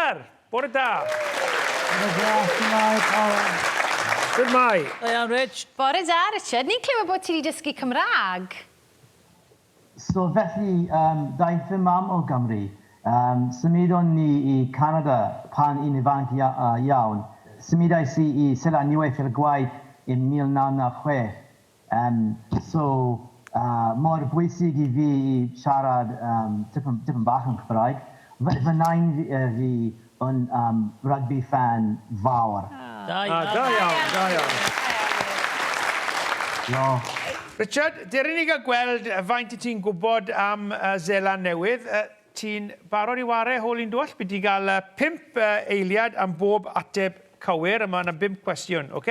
Iar! Bore da! Bore da, shwmae pawb? Shwmae? Da iawn Rich. Bore da Richard, ni'n clywed bod ti 'di dysgu Cymraeg? So felly yym daeth fy mam o Gymru, yym symudon ni i Canada pan i'n ifanc iawn, symudais i i Sir Aniwyll ar gwaith in 1996, Yn so mor bwysig i fi i siarad tipyn tipyn bach yn Cymraeg. Fy fy nain fi yn rugby ffan fawr. Da iawn. Da iawn, da iawn. Diolch. Richard, dere i ni gael gweld faint wyt ti'n gwybod am Seland Newydd. Ti'n barod i ware hol un duell? Bydd ti'n cael pump eiliad am bob ateb cywir a mae yna bump cwestiwn, ok?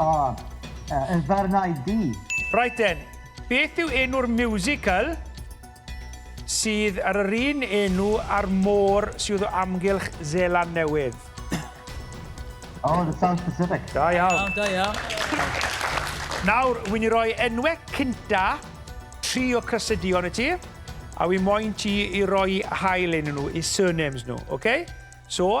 O, uh, y ddarnau du. Right then, beth yw enw'r musical sydd ar yr un enw a'r môr sydd o amgylch Zeland Newydd? Oh, the South Pacific. Da iawn. Da iawn. Nawr, wy'n i roi enwau cynta tri o crysydion i ti, a wy'n moyn ti i roi hael yn nhw, i surnames nhw, oce? Okay? So,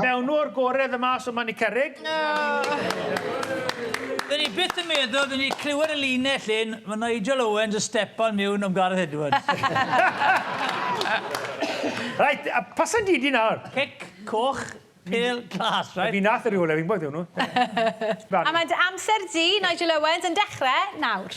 Mewnw o'r gore the mas o man y cerrig. Dyn ni byth yn meddwl dyn ni clywed y linell hyn, ma Nigel Owens yn stepan miwn am Gareth Edwards. Reit, a pasen di di nawr? Cic, coch, pêl, glas, reit? Fi nath y rhywle fi'n gwybod ydw nhw. A mae dy amser di, Nigel Owens, yn dechrau nawr.